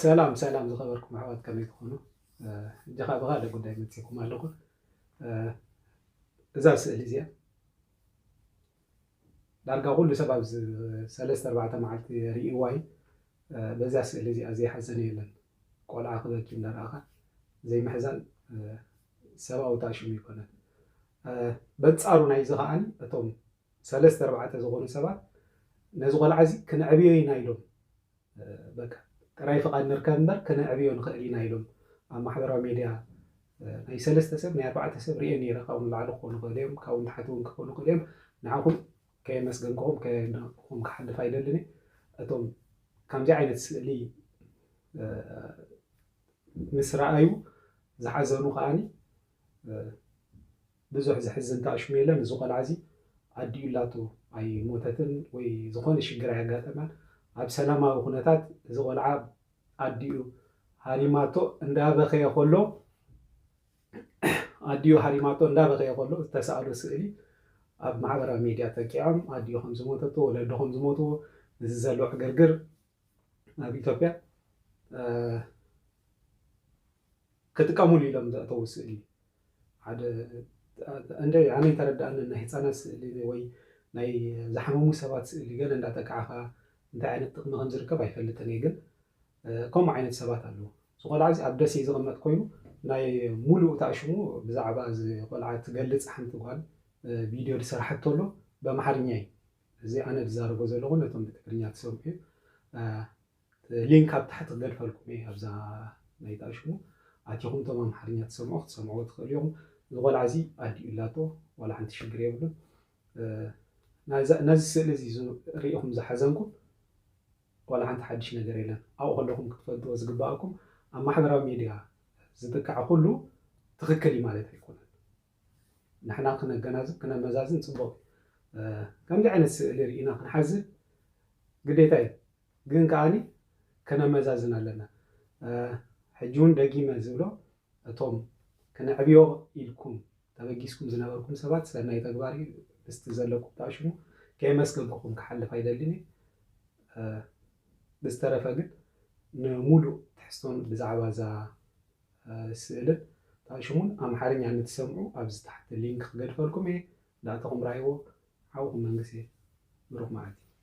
ሰላም ሰላም ዝኸበርኩም ኣሕዋት ከመይ ትኾኑ? እጀኻ ብኻልእ ጉዳይ መፂእኩም ኣለኹ። እዛ ስእሊ እዚኣ ዳርጋ ኩሉ ሰብ ኣብ ሰለስተ ኣርባዕተ መዓልቲ ርእይዋ እዩ። በዛ ስእሊ እዚኣ ዘይሓዘነ የለን። ቆልዓ ክበኪ እንዳረኣኻ ዘይምሕዛን ሰብኣዊ ታሽሙ ይኮነን። በንፃሩ ናይዚ ከዓኒ እቶም ሰለስተ ኣርባዕተ ዝኾኑ ሰባት ነዚ ቆልዓ እዚ ክነዕብዮ ኢና ኢሎም በቃ ጥራይ ፍቓድ ንርከብ እምበር ክነዕብዮ ንኽእል ኢና ኢሎም ኣብ ማሕበራዊ ሜድያ ናይ ሰለስተ ሰብ ናይ ኣርባዕተ ሰብ ርኤ ነይረ ካብኡ ንላዕሊ ክኾኑ ይኽእሉ እዮም ካብኡ ንታሕቲ እውን ክኾኑ ይኽእሉ እዮም ንዓኹም ከየመስገንክኹም ከየድነቕኩኹም ክሓልፍ ኣይደልን እየ እቶም ከምዚ ዓይነት ስእሊ ምስ ረኣዩ ዝሓዘኑ ከዓኒ ብዙሕ ዘሕዝን ታኣሽሙ የለን እዚ ቆልዓ እዚ ኣዲኡላቱ ኣይ ሞተትን ወይ ዝኮነ ሽግር ኣይ ኣጋጠማን ኣብ ሰላማዊ ኩነታት እዚ ቆልዓ ኣዲኡ ሃሪማቶ እንዳ በከየ ከሎ ኣዲኡ ሃሪማቶ እንዳ በከየ ከሎ ዝተሳኣሎ ስእሊ ኣብ ማሕበራዊ ሜድያ ጠቂዖም ኣዲኡ ከም ዝሞተቶ ወለዱ ከም ዝሞትዎ እዚ ዘሎ ዕግርግር ናብ ኢትዮጵያ ክጥቀሙሉ ኢሎም ዘእተዉ ስእሊ ሓደ እንደ ኣነ ተረዳእኒ ናይ ህፃናት ስእሊ ወይ ናይ ዝሓመሙ ሰባት ስእሊ ገለ እንዳጠቃዕኻ እንታይ ዓይነት ጥቅሚ ከም ዝርከብ ኣይፈልጥን እየ ግን ከምኡ ዓይነት ሰባት ኣለዉ እዚ ቆልዓ እዚ ኣብ ደሴ ዝቕመጥ ኮይኑ ናይ ሙሉእ እታ ሽሙ ብዛዕባ እዚ ቆልዓ ትገልፅ ሓንቲ ጓል ቪድዮ ዝሰራሓቶ ኣሎ በምሓርኛ እዩ እዚ ኣነ ዝዛረቦ ዘለኩ ነቶም ብትግርኛ ትሰምዑ ሊንክ ኣብ ታሕቲ ክገድፈልኩም እየ ኣብዛ ናይታ ሽሙ ኣቲኩም እቶም ኣምሓርኛ ትሰምዑ ክትሰምዕዎ ትክእሉ ኢኩም እዚ ቆልዓ እዚ ኣዲኡ ኣላቶ ዋላ ሓንቲ ሽግር የብሉን ነዚ ስእሊ እዚ ሪኢኩም ዝሓዘንኩም ዋላ ሓንቲ ሓድሽ ነገር የለን ኣብኡ ከለኩም ክትፈልጥዎ ዝግበኣኩም ኣብ ማሕበራዊ ሚድያ ዝጥቃዕ ኩሉ ትክክል እዩ ማለት ኣይኮነን ንሕና ክነገናዝብ ክነመዛዝን ጽቡቕ እዩ። ከምዚ ዓይነት ስእሊ ርኢና ክንሓዝን ግዴታ እዩ። ግን ከኣ ከነመዛዝን ኣለና። ሕጂ እውን ደጊመ ዝብሎ እቶም ክነዕብዮ ኢልኩም ተበጊስኩም ዝነበርኩም ሰባት ሰናይ ተግባር እዩ ምስቲ ዘለኩም ጣሽሙ ከየመስገንኩኹም ክሓልፍ ኣይደልን እዩ። ብዝተረፈ ግን ንምሉእ ትሕዝቶን ብዛዕባ እዛ ስእልን ጣእሽሙን ኣምሓርኛ ንትሰምዑ ኣብዚ ታሕቲ ሊንክ ክገድፈልኩም እየ ዳእታኹም ራህይዎ ሓውኹም መንግሴ ብሩኽ መዓልቲ።